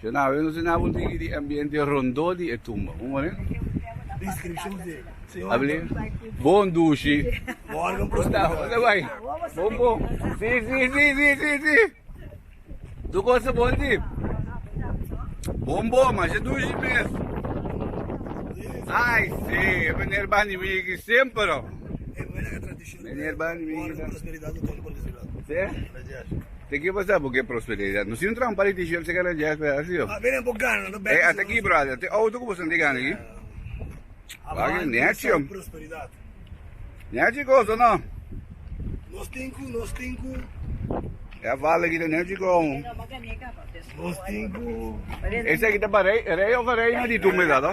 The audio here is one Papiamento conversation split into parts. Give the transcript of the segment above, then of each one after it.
Shonave nos tin abo digi di ambiente rondó di e tumba? Como ne? Descripcion di Señor Antonio. Bon dushi. Bo organ proscutado. Bo ta bo ta bai. Bon bon. Si si si si si si. Tur cosa bon di. Bon bon masha dushi mes. Ai si e meneer bandi mi aki semper oh. Meneer bandi mi aki. Si. Te ke pasa bo ke prosperidad? No si un trampa di t-shirt se keda djak la asio. A bini bo gana lo bek. E ata ki brother, te auto ku bo sinti gana aki? Wak nechi. Nechi koso no. Nos tin ku nos tin ku. E a fala aki ta nechi koho. Nos tin ku. Esaki ta pa rei, rei of a reina di tumbe sa to.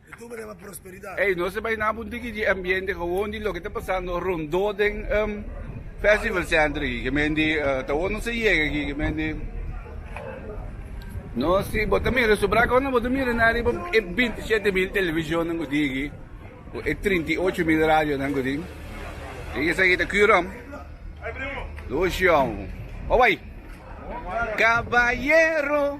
Ey nos ta bai na un tiki di ambiente gewoon di loke ta pasando rondó den festival center aki ke men di ta wou nos a yega aki ke men di no si bo ta mira subra kounan bo ta mira nan riba e binti shete mil televisionnan ku tin aki ku e trinta i ocho mil radionan ku tin i esaki ta Q-rom Lucio owai Caballero.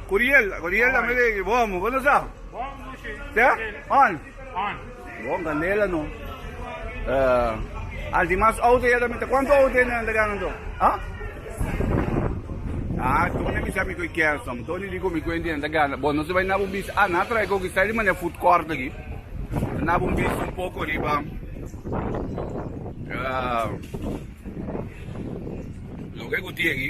Curiel Curiel tambe ta aki bon bo no sa te on bon candela no al tin mas auto ya tambe ta cuanto auto e nan ta gana anto a a Tony mi sa mi cu e Kenson Tony di cu mi cu e nan ta gana bon nos ta bay na bo bis a na trae coke sa riba ne food court aki ta na bo bis un poco riba loke cu tin aki.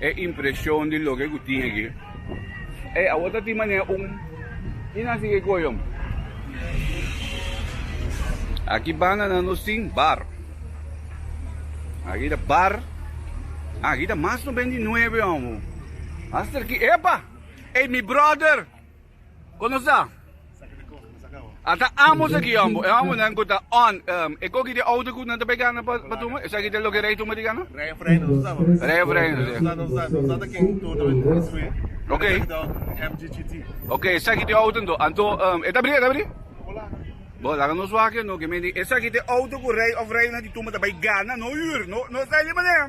E impresion di loke ku tin aki. Ey, awor ta tin manera un i nan si ke kohe hombre. Aki bananan nos tin bar. Aki ta bar. Ah, aki ta mas no benti nueve, hombre. Hasta aki, epa! Ey, mi brother! Kon nos ta? A ta ambos aki yambo, e hombrenan ku ta on, e koki di outo ku nan ta bai gana pa tuma? Esaki ta loke rei tuma di gana? Rei of reina nos ta tabata? Rei of reina, si. Nos ta, nos ta ta ken turno di construi. Oké. Esaki ta MGGT. Oké, esaki ta e outo anto. Anto, e ta bri? E ta bri? Bo laga. Bo laga nos wak e no, ke men di esaki ta e outo ku rei of reina di tuma ta bai gana, no hür, no, no esaki di manera.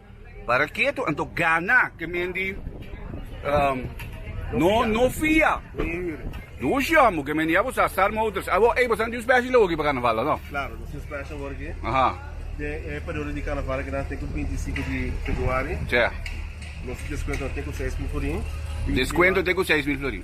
Para ke tu anto gana ke men di no no fia? Duos jòm bo ke men di abo sa Star Motors. Abo ey bo sa nan tin un special hogi pa Carnaval lo no? Claro, nos tin special hogi. Den e periodo di Carnaval ke nan tin ku binti sinku di Februari. Nos descuento tin ku seis mil florin. Descuento tin ku seis mil florin.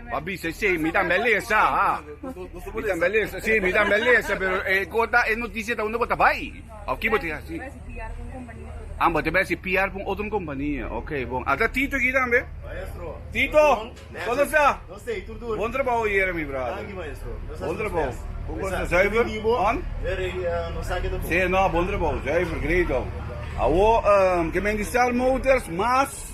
Bo bisa esei, si, mi tambe a lesa, pero e gota e notisia ta unda bo ta bai? Of ki bo ta hasi? Ah, bo ta bai hasi PR ku un otro kompania, ok bon. A ta Tito aki tambe? Tito, konta sta? Bon trabou yere mi brada. Bon trabou. Ku konta zuiver? On? Si no, bon trabou, zuiver, great. Awo ke menti Star Motors mas.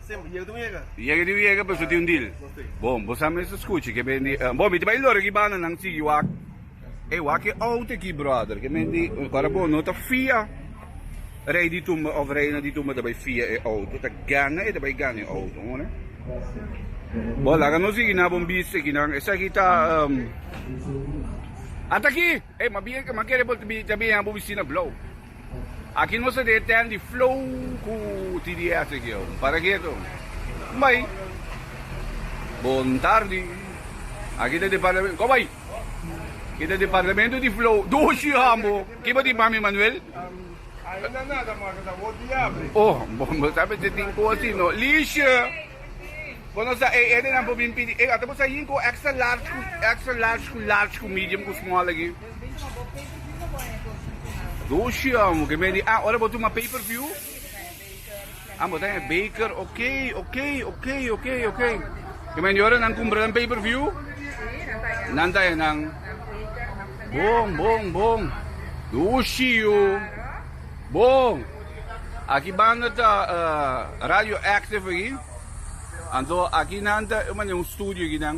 Yega di yega pues lo tin un deal. Bon, bo sa mester scuchi ke ben di, bon mi ta bai loro ki banda nan sigui wak. Ey wak e oud aki brother, ke men di ora bo no ta fia rey di tumba of reina di tumba ta bai fia e oud, bo ta gana e ta bai gana e oud, horen. Bon laga nos sigui na bon bisti aki nan, esaki ta ataki, ey ma bien ke ma kere bo ta biña bo bisti na blou. Aki nos a deten di flow ku TDF te geo. Para ke to? Bai. Bon tardi. Aki ta departamento. Ko bai. Aki ta departamento di flow. Doshi Hambo. Ki bo tin pa mi Manuel? Ainda nada maka ta bo di abri. Oh, bo sa mester tin ku asi no. Liesje. Bo no sa e edenan por bin pidi. E ata bo sa yin ku extra large ku extra large ku large ku medium ku small aki. Doshi-o ke men di ah ora bo tuma paper view ah bo ta den e baker ok ok ok ok ok ke men di ora nan kumpra nan paper view nan ta den nan bon bon bon doshi-o bon aki banda ta radio active aki anto aki nan ta un studio aki nan.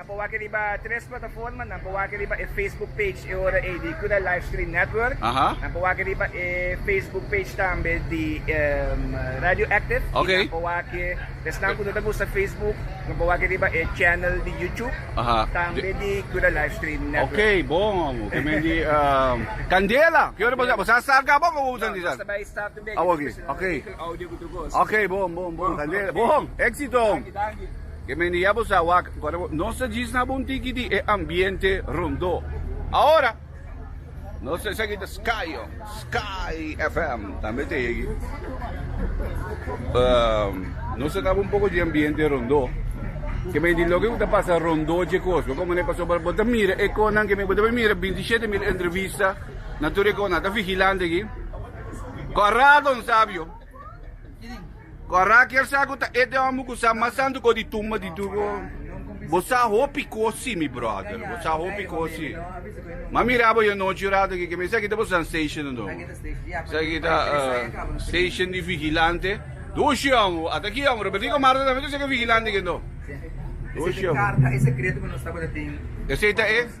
Pa wak riba tres plataformanan, pa wak riba e Facebook page e ora ei di Kuda Livestream Network, nan pa wak riba e Facebook page tambe di Radio Active, i nan pa wak, esnan ku no ta usa Facebook, nan pa wak riba e channel di YouTube tambe di Kuda Livestream Network. Ok, bon amo, ke men di Candela, ke ora bo sa start ka bo ku bo ta utilizar? No, no ta bai start todavia, ke ta cuestiona di enkel audio ku ta goza. Ok, bon, bon, bon, Candela, bon, éxito! Danki, danki. Ke mende ya bo sa wak, kor bo, nos ta djis na bo un tiki di e ambiente rondó. Awor, nos ta esaki ta Sky-o, Sky FM tambe ta yegi. Nos ta dabo un poko di ambiente rondó, ke mende loke bo ta pasa rondó dje kos, bo komo ne pasó bo, bo ta mira e kosnan ke mende bo debe mira bintishet mil entrevista na tur e kos, nan ta vigilante aki. Kor rato, nan sabio. Ku a Rakel sa ku ta e te hòmber ku sa mas santu ku di tumba di Dugo? Bo sa hopi kosi, mi bròder. Bo sa hopi kosi. M'a mira bo e anochi un ratu akí, ke mester aki ta boso nan station anto. Esaki ta station di vigilante. Dushi hòmber, bo. Ata ki hòmber, Robertico a Marta tambe ta ser vigilante aki anto. Dushi hòmber. Esei ta e?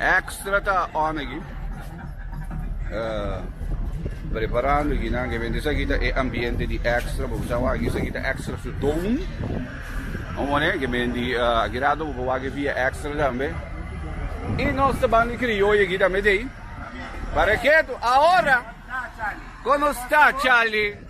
Extra ta on aki preparando aki nan ke bende esaki ta e ambiente di extra bo bisa wak aki esaki ta extra su don bo wone ke bende aki rato bo por wak aki via extra tambe y nos ta ban di crioyo aki tambe de ahí para ketu ahora kono sta Charlie.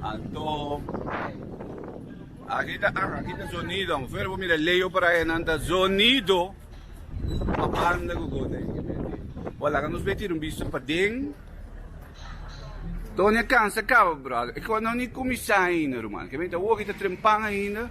Anto aki ta ah aki ta zonido ver bo mira leo por ahe nan ta zonido pa banda gogones e menti bo laga nos bay tira un bisto paden Doña cansa caba brother e cuanto nan ni cuminsa ainda ruman kibe ta hochi ta trempan ainda.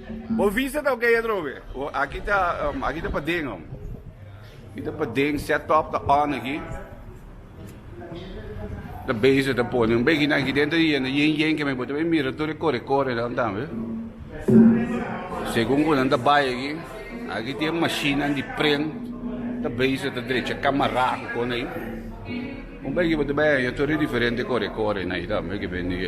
Bo visa ta oke atrobe. Aki ta aki ta paden ho. Aki ta paden set top ta on aki. Ta bezig ta pone un begi na giden ta yendo yen yen ke me bote me mira tur kore kore dan dan we. Segun kunan ta bai aki. Aki tin machine di pren ta bezig ta drecha kamara ku kona i. Un begi bote bai yo tur diferente kore kore na i tambe ke ben di.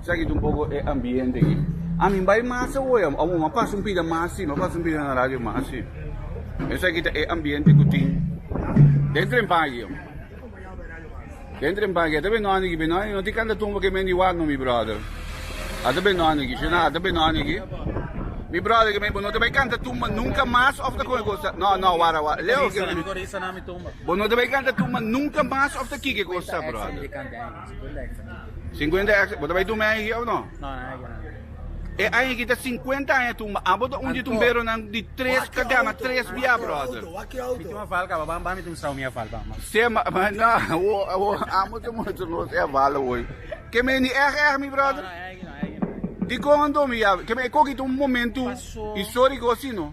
Sa kit un poco e ambiente aki. A mi bay mas awoy a wou a pasa un pida mas si a pasa un pida na radio mas si esa ki ta e ambiente ku tin den tren pagi den tren pagi ata be noni aki be noni no tin kan ta tumba ke men di wak no mi brother ata be noni aki shina ata be noni aki mi brother ke men bo no ta bay kan ta tumba nunka mas of ta con e cosa no no wara wara Leo bo no ta bay kan ta tumba nunka mas of ta kiki cosa brother. Cincuenta hektara. Cincuenta hektara. Bo ta bay tumbe aña aki of no? No, nan aki nan. E aña aki ta cincuenta aña tumba. Abo ta un di tumberonan di tres ka gana tres bia brother. Mi tuma val kaba ba ba mi tuma sao mi a val ba ma. Sey ma ma na wo wo amo ta muestra nos e val hoy. Ke men di eg eg mi brother. Dikon anto mi yabi? Ke men e koki ta un momento historico asino.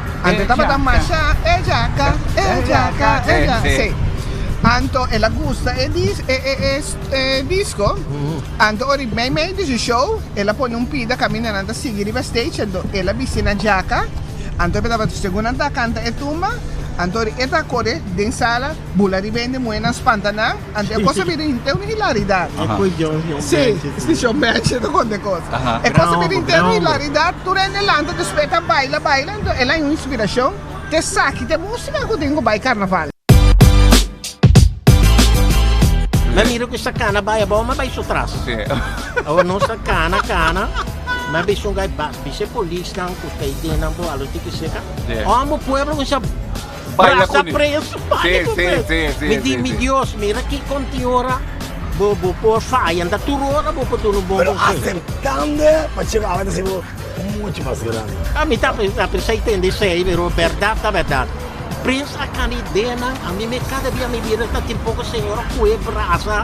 Anto e tabata masha e jaka, e jaka, e jaka, sí. Anto el a gusta e dis, e, e, e, e disco, anto ori mei mei di su show el a pone un pida caminda nan ta sigui riba stage anto el a bisti nan jaka, anto e tabata segun nan ta canta e tumba, anto ori e ta core den sala bula riba hende muhe nan spanta nan, Ante e cosa bira inte un hilaridad. E cu e John John Si, Benchit. si John Benchit ta conta e cosa. Aha. E cosa bira inte un Gran hombre. hilaridad, tur hende lanta despues e ta baila, baila, entonces el'a un inspiracion ta esaki ta e musica cu tin cu bay carnaval. Nan mira cu esta cana bay abao ma bay so tras. Sí. Awa nos ta cana, cana. Nan bay sunga e bas. Bishe polisnan cu stay dennan bo alo tiki seca. Sí. Omo pueblo un sa Baila cu ni. Sí, sí, sí, sí. Mi di, mi Dios, mira ki conti ora bo, bo por faya. Nta tur ora bo por duna un bon conseho. Pero aceptando e, pa Chema awe ta hasi bo mucho mas grandi. A mi ta apresa y tende esey, pero berdad ta berdad. Prince a cana ideanan, a mi me cada dia mi bira ta tin poco señora cu e brasa.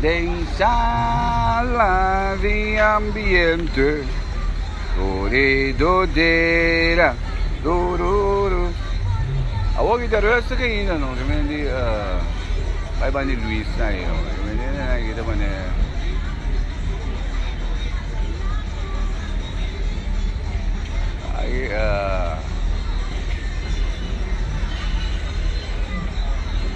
Den sala di ambiente koridodera tururu Awor i ta rustig ainda no ta bini di bai banda di Luis na ayi no ta bini di nan aki ta manera aki a.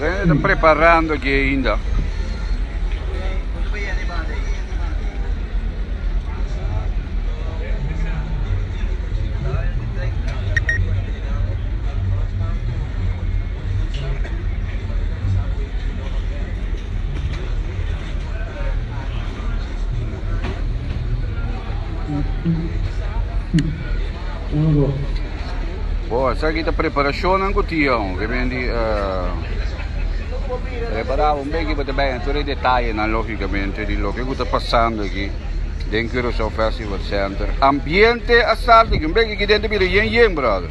Rene preparando aquí ainda. Bo esaki ta preparashonnan ku Tiyon ke ben di prepará un beki pa ta bai na tur e detayenan lógikamente di loke ku ta pasando aki den Curaçao Festival Center. Ambiente a start aki un beki aki den ta bira yen yen brother.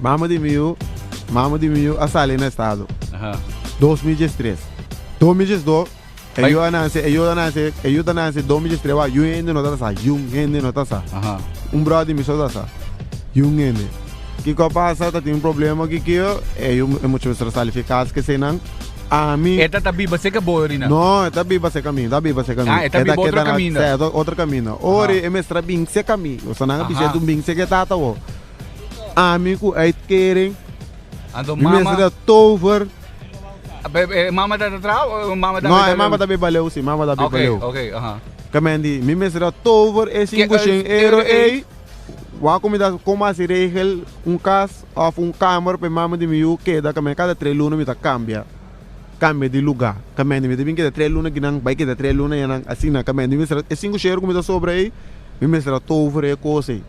Mama di mi yu, mama di mi yu a sali na estado. Dos mi djes tres. Dos mi djes do, e yu a nan se, e yu a nan se, e yu ta nan se dos mi djes tres, wak yu hende no ta sa, yun hende no ta sa. Un bròder di mi so ta sa. Yun hende. Kiko a pasa, tatin un problema ki ki yo, e yu, e mucha mester a sali fi e kas ku esei nan. Ami. E ta ta biba seka bo yorinan? No, e ta biba seka mi, e ta biba seka mi. Ah, e ta biba otro kaminda. Sè, otro kaminda. Ora e mester a binse ka mi, kosa nan a bisha e dun binse ka e tata bo. Ami ku ei teren, mi mester ta tover. E mama ta ta trao o e mama ta No, e mama ta be baleu si, e mama ta be baleu. Ok, ok, aha. Ke men di, mi mester ta tover e sinku shen euro ei, wak ku mi ta kon hasi regel un kas òf un kamer pa e mama di mi yu keda, ke men kada tres luna mi ta kambia. Kambia di lugá. Kamendi mi ta bin keda tres luna kinan bai keda tres luna yanan. Asina kamendi mi mester a e sinku shero ku mi ta sobra ei, mi mester a tovra e kos ei.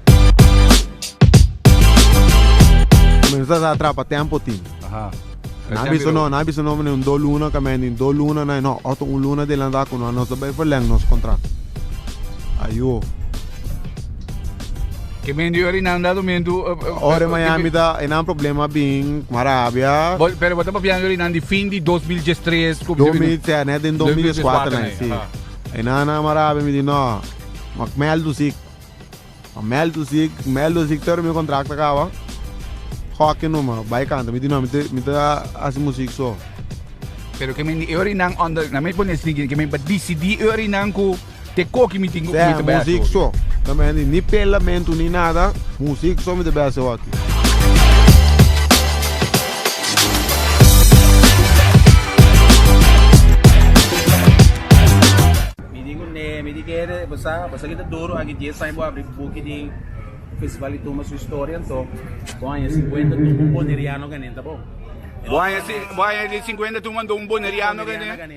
Mi no ta sa trapa tempu tin. Nan a bisa no, nan a bisa no manera un dos luna kamendi un dos luna nan a no otro un luna adelanta ku nos ta bai verlèng nos kontrakt. Ayo. Ke men di ori nan da dumentu. Ora Miami ta enan problema bin kuma rabia. Bo, pero bo ta papiando di nan di fin di 2013 ku Domi te ne den 2004 na si. Enan na ma rabia mi di no. Ma mel tu sik. Ma mel tu sik, mel tu sik pero mi kontrakt ta kaba. Hockey numa, bai kanta. Mi di no mi ta mi ta hasi musik so. Pero ke men di e ori nan under, na mi pone siguiente, ke men pa disidi e ori nan ku Te koki mi tin ku mi ta bese hopi. Seh, muzik so. Tambe ni pelamentu ni nada, muzik so mi ta bese hopi. Mi di ku nee, mi di kere, bo sa, bo sa ki ta duru, aki dies aña bo abri buki di festival di Tuma su historia anto bo haña sinkuenta tuma un boneriano ganenta bo. Bo haña sinkuenta tuma un boneriano ganenta.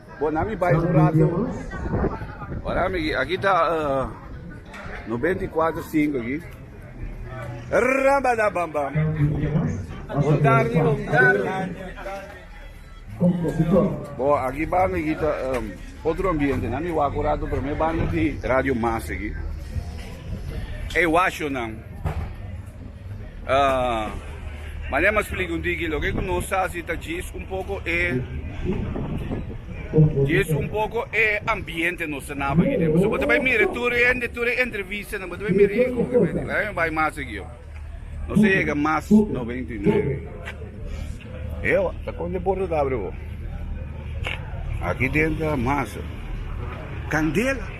Bo na mi bai un rato. Wara mi aki, aki ta noventa i kuater sinku aki. Rabadabambam. Un tardi, un tardi. Bo aki banda aki ta otro ambiente, na mi wak un rato prome banda di Radio Mas aki. Ey washonan. Manera mas flic un digi loke cu nos ta haci ta djis un poco e djis un poco e ambiente nos ta naba aki den. Pasobra bo ta bay mira tur e hende, tur e entrevistanan bo ta bay mira ey hopi hende. Laga mi bay mas aki ho. Nos a yega mas noventa i nuebe. Ewa ta con de porta ta abri bo. Aki den ta mas candela.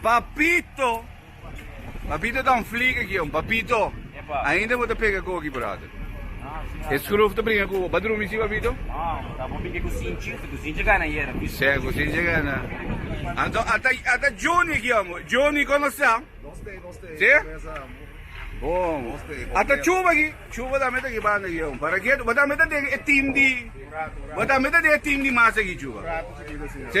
Papito! Papito ta un flieke aki, hombre. Papito! Ainda bo ta pega koki, brother. E skruf ta bringa ku bo. Bo a drumi si, Papito? Sèn, ku Sinchi gana. Anto, ata, ata Johnny aki, hombre. Johnny, kon bo sta? Si? Bon. Ata Chuba aki. Chuba tambe ta aki banda aki, hombre. Para ke bo tambe ta den e tim di, bo tambe ta den e tim di masa aki, Chuba? Si?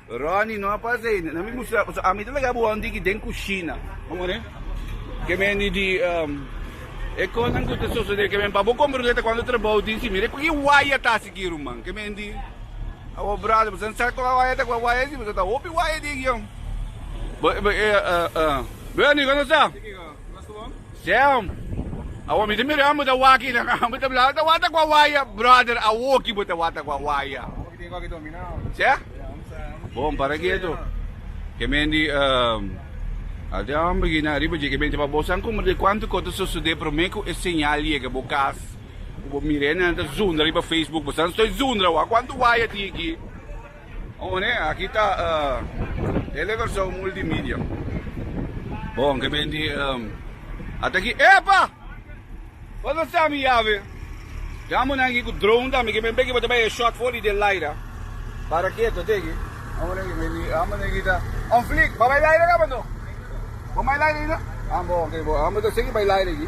Ronnie, no a pasa ei. Nan mi mustra bo. So ami ta laga bo hondi ki den kushina. Komo ne? Ke mende di e kosnan ku ta sosode. Ke mende pa bo kompra un ruleta kuando trabou tin si. Mira ku e waya ta hasi ki ruman. Ke mende di awa brada boso no sa ku a waya ta. Ku a waya si boso ta hopi waya di e gion. Bo, bo, bo, Bernie, kon ta sa? Sam, Awa mi ta mirando bo ta wak kinan a bo ta blama, ta wata ku a waya. Brother, awoki bo ta wata ku a waya. Sa? Bon, para ketu. Kemendi, um, a ta amber kina ariba dje kemendi pa bo san kumber de kuantu kos ta sosodé promé ku e señal yega bo kas. Ku bo mira e nan ta zundra riba Facebook, bo san stoi zundra awa. Kuantu waya tin aki? Oné, aki ta Tele Kòrsou Multimedia. Bon, ke ben di ata aki. Epa! Bo ta sa mi yave. Djam bo nan aki ku drone tambe, ke ben beki bo ta bai e shot for di Delilah. Para keto te aki. Oné, ke ben di amba nan aki ta on fleek. Bo bai laira kaba anto? Bo bai laira aki na? Amba oké, bo amba ta segui bai laira aki.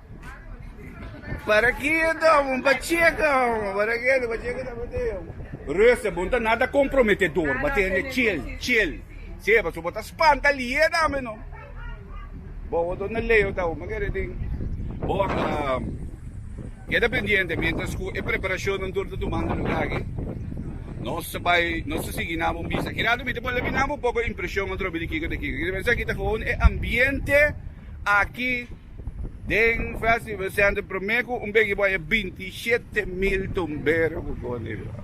Para ki e domo pa cheka omo para ki ento pa cheka ta botei omo. Ruster bo no ta nada comprometedor bo a tende chill chill si pasobra bo ta spanta lie tambe no bo bo ta leo ta omo kere tin bo a keda pendiente mientras cu e preparacion antur ta tumando lugar aki nos ta bay nos ta sigui nan bo misa ki rato mi ta pone nan bo un poco impresion atrobe di kiko ta kiko esaki ta gon e ambiente aki. Den festival e sende promé ku un begi bo e binti i shete mil tumbero ku koni bo.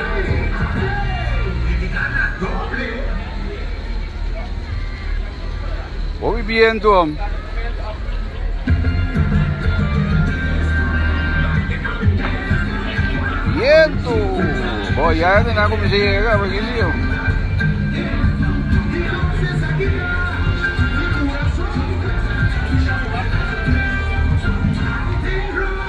Bo bi bientu hom. Bientu. Bo ya e na kuminsá yega pa kili hom.